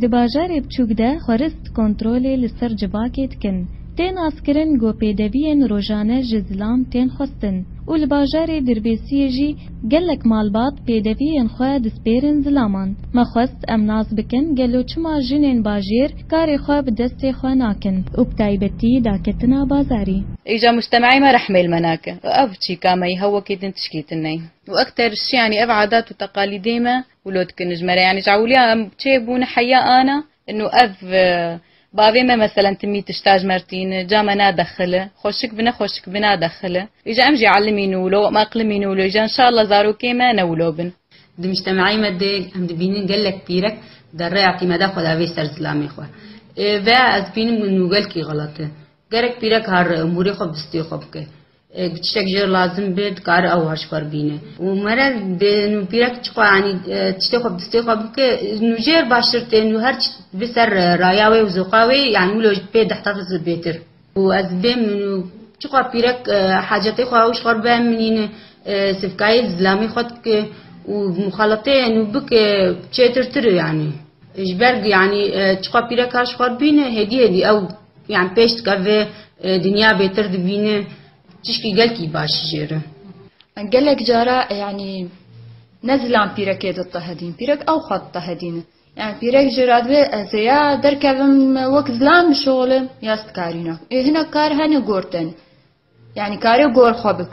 Di bajarê biçûk de xwerist kontrolê li ser civakê dikin. Tê naskirin ku pêdeviyên rojane ji zilam tên xwestin û li bajarê Dirbêsiyê jî gelek malbat pêdeviyên xwe dispêrin zilaman. Me xwest em nas bikin gelo çima jinên bajêr karê xwe bi destê xwe nakin û bi taybetî daketina bazarî. Îca mujtemeyê me rehmê li me nake û ev çîka me yî hewokî din tişkî din neyî. Û ekter şiyanî ev adat û teqalîdê me. Wlot ki nijmere yanî ji ewliya em çê bûn heya ana inu ev bavê me meselen timî tişta ji mer tîn ca me nadexile xweşik bi ne xweşik bi nadexile îja em jî elim în û wilo em eqlim în û wilo îja inşallah zarokê me ne wilo bin. Di mujtemeyê me de em dibînin gelek pîrek di rêya tîmeda xwe de vê ser zilamê xwe ve ez bînim inu gelkî xelat e. Gerek pîrek har umurê xwe bi stê xwe bike. Tiştek jê re lazim be dikare ew haşkar bîne û mere dê nûpîrek çiqo yanî tiştê xwe bi distê xwe bike nûjêr baştir tê nû her çi bi ser raya wê û zoqa wê yanî wilo ji pê deh tefs li bêtir û ez bê min û çiqo pîrek hacetê xwe ew ji xwe re bi eminîne sivkayê zilamê xwe dike û muxaleteyê nû bike çêtir tir e yanî ji ber yanî çiqo pîrek her ji xwe re bîne hêdî hêdî ew Yan pêş dike vê dinya bêtir dibîne tişkî gelkî baş jê re. Gelek cara yanî ne zilam pîrekê ditehedîn. Pîrek ew xwe ditehedîne. Yani pîrek jê re divê ez ê ya derkevim wek zilam bişolim ya stkarîna. Ê hinek kar hene gortene. Yani karê gor xwe bik.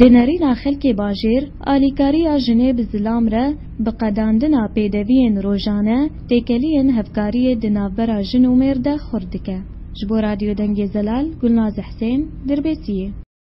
Di nêrîna xelkê bajêr, alîkariya jinê bi zilam re, bi qedandina pêdeviyên rojane, têkeliyên hevkariyê di navbera jin û mêr de xurt dike. Ji bo Radyo Dengê Zelal, Gulnaz Husên, Dirbêsiyê.